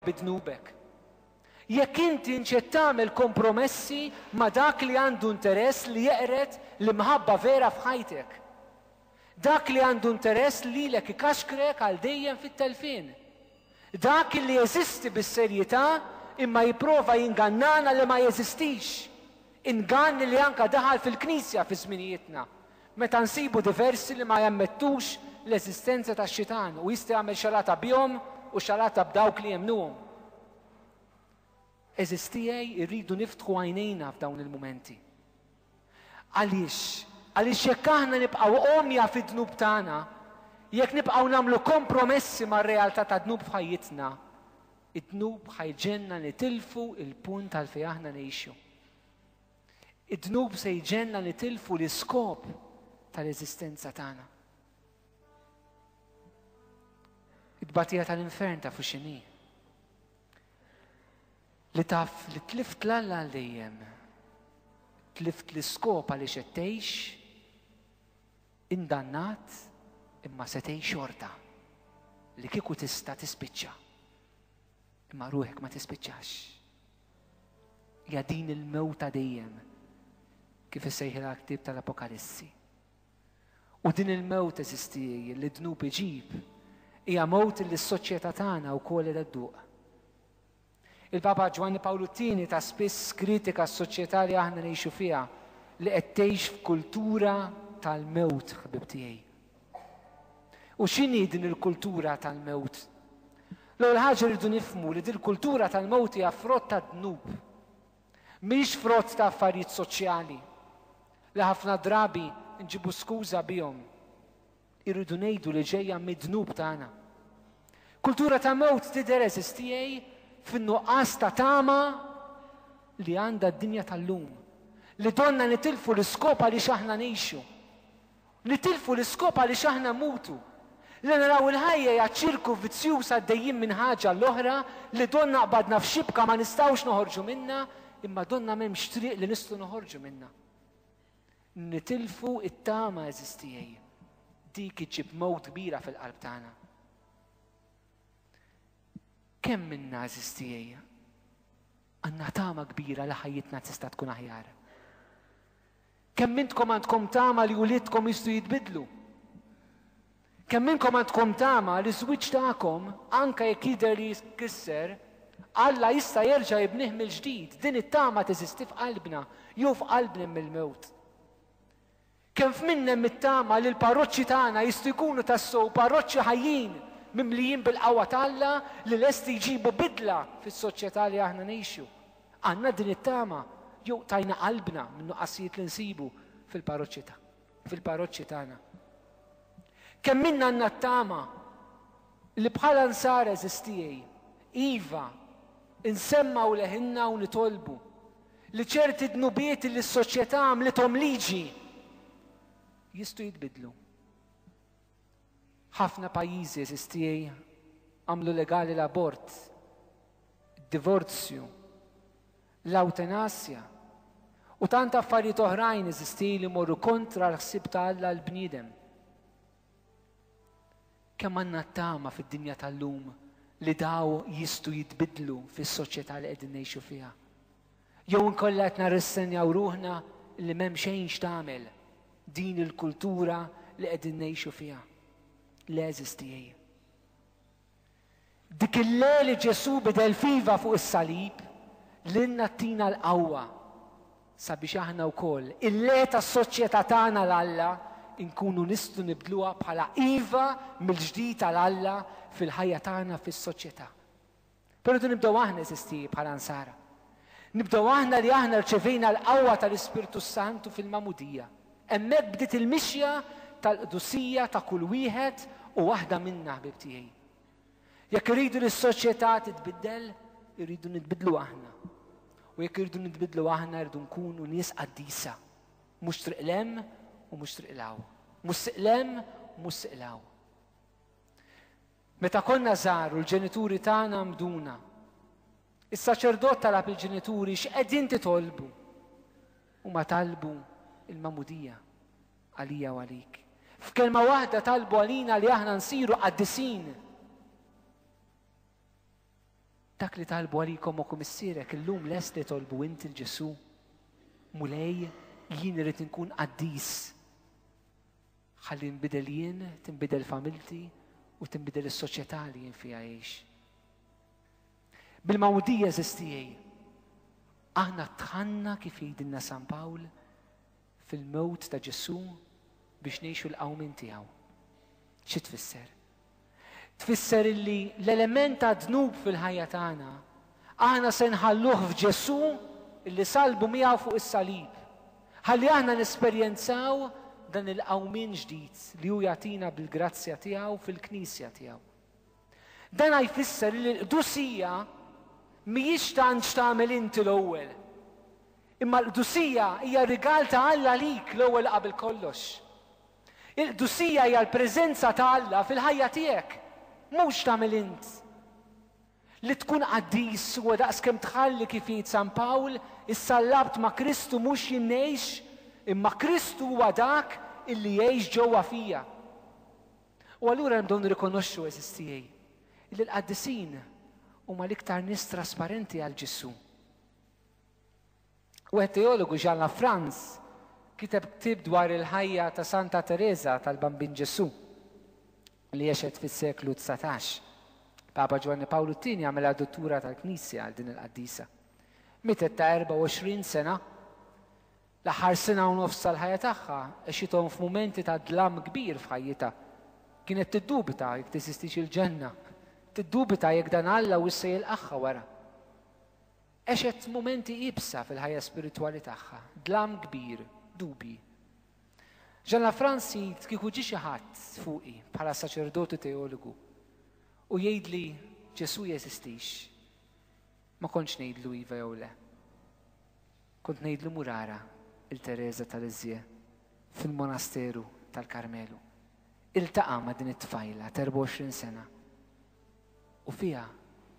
bi dnubek. Jekk inti nċed tagħmel kompromessi ma' dak li għandu interess li jeqred l-imħabba vera f'ħajtek. Dak li għandu interess lilek ikaxkrek għal dejjem fit-telfien. Dak li jeżisti bis-serjetà imma jipprova jingannana li ma jeżistix. Ingann li anke daħal fil-Knisja fi żminijietna. Meta nsibu diversi li ma jammettux l-eżistenza tax-Xitan u jista' jagħmel xalata bihom u xalata b'dawk li jemmnuhom. Għeżież tiegħi, irridu niftħu għajnejna f'dawn il-mumenti. Għaliex? Għaliex jekk aħna nibqgħu għomja fid-dnub tagħna, jekk nibqgħu nagħmlu kompromessi mar-realtà tad-dnub f'ħajjitna, id-dnub ħa jġegħlna nitilfu l-punt għalfejn aħna ngħixu. Id-dnub se jġenna nitilfu l-iskop tal-eżistenza tagħna. It-tbatija tal-infern ta' fuxini. Li taf li tlift l-alla għal dejjem. Tlift l-iskop għaliex qed tgħix indannat imma se tgħix xorta li kieku tista' tispiċċa. Imma ruħek ma tispiċċax. hija din il-mewta dejjem kif issejħilha l-ktieb tal-Apokalissi. U din il-mewt eżistijieji li dnub iġib hija mewt li s-soċjetà tagħna wkoll qed dduq. Il-Papa Ġwanni Pawlu Tieni ta' spiss kritika s-soċjetà li aħna ngħixu fiha li qed tgħix f'kultura tal-mewt ħbib tiegħi. U x'inhi din il-kultura tal-mewt? L-ewwel ħaġa rridu nifhmu li din il-kultura tal-mewt hija frott tad-dnub. Mhix frott ta' affarijiet soċjali li ħafna drabi nġibu skuża bihom. Irridu ngħidu li ġejja mid-dnub tagħna. Kultura ta' mewt tidher eżistijej fin-nuqqas ta' tama li għandha d-dinja tal-lum. Li donna nitilfu l-iskop għaliex aħna ngħixu. Nitilfu l-iskop għaliex aħna mutu. Li naraw il-ħajja hija ċirku vizzjuż għaddejjin minn ħaġa l-oħra li donnha qbadna f'xibka ma nistgħux noħorġu minnha imma donnha m'hemmx triq li nistgħu noħorġu minnha. Nitilfu t-tama eżiż tiegħi. Dik iġib mewt kbira fil-qalb tagħna. Kemm minna eżiż tiegħi għandna tama kbira li ħajjitna tista' tkun aħjar. Kemm minnkom għandkom tama li uliedkom jistgħu jitbiddlu? Kemm minnkom għandkom tama li ż-żwieġ tagħkom, anke jekk jidher li jitkisser, Alla jista' jerġa' jibnih mill-ġdid? Din it-tama teżisti f'qalbna, jew f'qalbna mill-mewt. Kemm f'min hemm it-tama li l-parroċċi tagħna jistgħu jkunu tassew parroċċi ħajjin, mimlijin bil-qawwa t'Alla li lesti jġibu bidla fis-soċjetà li aħna ngħixu? Għandna din it-tama jew tajna qalbna min-nuqqasijiet li nsibu fil-parroċċi ta' fil-parroċċi tagħna? Kemm minna għandna t-tama li bħala nsara eżistijej, iva, insemmgħu leħinna u nitolbu li ċerti dnubiet li s-soċjetà għamlithom liġi jistgħu jitbiddlu. Ħafna pajjiżi, għeżież tiegħi, għamlu legali l-abort, id-divorzju, l-awtenasja, u tant affarijiet oħrajn, għeżież tiegħi, li morru kontra l-ħsieb ta' Alla għal bniedem. Kemm għandna tama fid-dinja tal-lum li daw jistgħu jitbiddlu fis-soċjetà li qegħdin ngħixu fiha. Jew inkollha qed narrissenjaw ruħna li m'hemm xejn x'tagħmel din il-kultura li qegħdin ngħixu fiha? Le għeżież tiegħi. Dik il-le li Ġesù bidel f'iva fuq is-salib lilna ttina l-qawwa sabiex aħna wkoll il-le tas-soċjetà tagħna l Alla nkunu nistgħu nibdluha bħala iva mill-ġdid għal Alla fil-ħajja tagħna fis-soċjetà. Però rridu nibdew aħna, eżisti bħala Nsara. Nibdew aħna li aħna rċevejna l-qawwa tal-Ispirtu s-Santu fil-Magħmudija. Hemmhekk bdiet il-mixja tal-qdusija ta' kull wieħed u waħda minna, ħbieb tiegħi. Jekk irridu li s-soċjetà titbiddel, irridu nitbiddlu aħna. U jekk irridu nitbiddlu aħna rridu nkunu nies qaddisa. Mhux triq lem u mhux triq law. Mhux siqlem, mhux siqlaw. Meta konna żgħar u l-ġenituri tagħna għammduna, is-saċerdot talab lill-ġenituri x'qegħdin titolbu. Huma talbu l-magħmudija għalija u għalik. F'kelma waħda talbu għalina li aħna nsiru qaddisin. Dak li talbu għalikom u kumissierek illum lest li tolbu inti l-Ġesu. Mulej, jien irrid inkun qaddis. Ħalli nbidel jien, tinbidel familti u tinbidel is-soċjetà li jien fiha għix. Bil-mawdija żistijaj, aħna tħanna kif jgħidilna San Pawl fil-mewt ta' Ġesù biex ngħixu l-qawmin tiegħu. Xi tfisser? Tfisser illi l-element tad-dnub fil-ħajja tagħna aħna se nħalluh f'Ġesù illi sallbu miegħu fuq is-salib, ħalli aħna nesperjenzaw dan il-qawmien ġdid li hu jagħtina bil-grazzja tiegħu fil-Knisja tiegħu. Dana jfisser illi l-qdusija mhijiex tant x'tagħmel inti l-ewwel, imma l-qdusija hija rigal ta' Alla għalik l-ewwel qabel kollox. Il-qdusija hija l-preżenza ta' Alla fil-ħajja tiegħek, mhux tagħmel int. Li tkun qaddis huwa daqs kemm tħalli kif jgħid San Pawl, issa l-Għabd ma' Kristu mhux jien ngħix, imma Kristu huwa dak illi jgħix ġewwa fija. U allura hemm bżonn nirrikonoxxu, għeżież tiegħi, illi l-qaddisin huma l-iktar nies trasparenti għal Ġesù. Wieħed teologu, Jean Lafrance, kiteb ktieb dwar il-ħajja ta' Santa Tereża tal-Bambin Ġesù li għexet fis-seklu dsatax. Il-Papa Ġwanni Pawlu t-Tieni għamilha duttura tal-Knisja għal din il-qaddisa. Mietet ta' 24 sena. L-aħħar sena u nofs tal-ħajja tagħha għexithom f'mumenti ta' dlam kbir f'ħajjitha. Kienet tiddubita jekk teżistix il-ġenna. Tiddubita jekk dan Alla huwiex se jilqagħha wara. Għexet mumenti iebsa fil-ħajja spiritwali tagħha, dlam kbir, dubji. Jean Lafrance jgħid kieku ġie xi ħadd fuqi bħala saċerdot u teologu u jgħidli Ġesù jeżistix, ma kontx ngħidlu iva jew le. Kont ngħidlu murara il-Teresa tal-Iżje fil-monasteru tal-Karmelu. Iltaqa' ma' din it-tfajla ta' 24 sena u fiha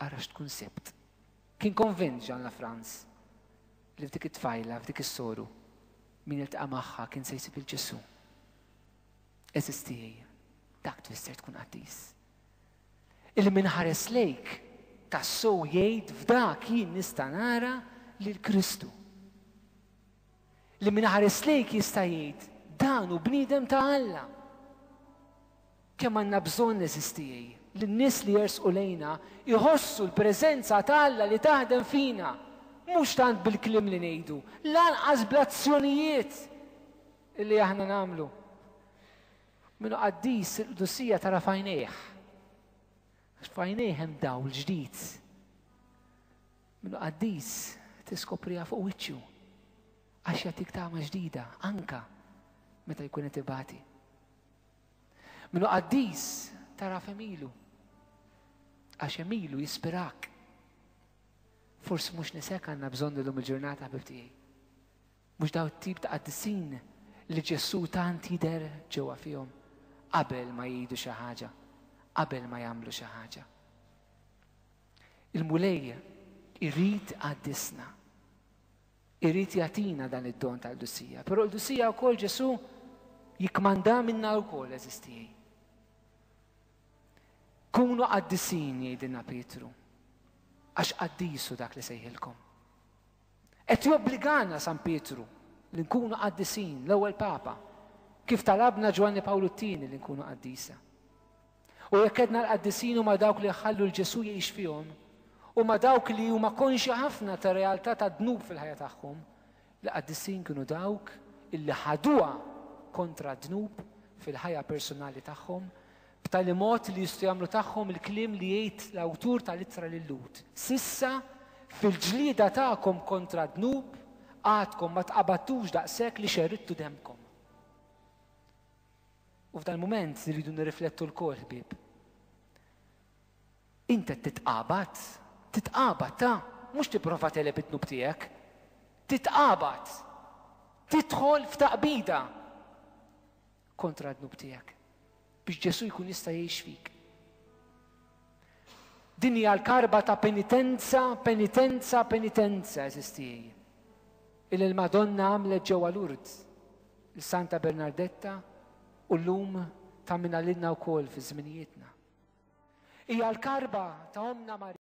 ara x'tkun sibt. Kien konvint Jean Lafrance li f'dik it-tfajla, f'dik is-soru, min iltaqa' magħha kien se jsib lil Ġesù. Eżis tiegħi, dak tfisser tkun qaddis. Illi min ħares lejk tassew jgħid f'dak jien nista' nara lil Kristu. Li min ħares lejk jista' jgħid dan u bniedem ta' Alla. Kemm għandna bżonn, għeżież tiegħi, li n-nies li jersqu lejna jħossu l-preżenza ta' Alla li taħdem fina, mhux tant bil-kliem li ngħidu, lanqas bl-azzjonijiet li aħna nagħmlu. Min hu qaddis il-qdusija tara f'għajnejh. F'għajnejh hemm dawl ġdid. Min hu qaddis tiskopriha fuq wiċċu għax jagħtik tama ġdida anka meta jkun qed ibati. Minu qaddis taraf emilu. Għax emilu jispirak. Forsi mhux nisek għandna bżonn illum il-ġurnata ħbib tiegħi. Mhux daw tip ta' qaddisin li Ġesu tant jidher ġewwa fihom qabel ma jgħidu xi ħaġa, qabel ma jagħmlu xi ħaġa. Il-Mulej irrid qaddisna. Irid jagħtina dan id-don tal-qdusija. Però l-qdusija wkoll Ġesù jikkmanda minna wkoll eżistijaj. Kunu qaddisin jgħidilna Pietru, għax qaddisu dak li sejħilkom. Qed jobbligana San Pietru li nkunu qaddisin l-ewwel Papa, kif talabna Ġwanni Pawlu t-tieni li nkunu qaddisa. U jekk għedna l-qaddisin huma dawk li jħallu l-Ġesù jgħix fihom, huma dawk li huma konxi ħafna ta' realtà ta' dnub fil-ħajja tagħhom, l-qaddisin kienu dawk illi ħaduha kontra d-dnub fil-ħajja personali tagħhom b'tali mod li jistgħu jagħmlu tagħhom il-kliem li jgħid l-awtur tal-ittra lil Lud. Sissa fil-ġlieda tagħkom kontra d-dnub għadkom ma tqabattux daqshekk li xerridtu demmkom. U f'dan il-mument rridu nirriflettu lkoll ħbieb. Int qed titqabad, titqabad ta' mhux tipprova teleb id-dnub tiegħek. Titqabad, tidħol f'taqbida kontra d-dnub tiegħek biex Ġesu jkun jista' jgħix fik. Din hija l-karba ta' penitenza, penitenza, penitenza eżistijie. Il-Madonna għamlet ġewwa Lourdes Santa Bernardetta u llum tammina lilna wkoll fi żminijietna. Hija l-karba ta' Ommna Marija.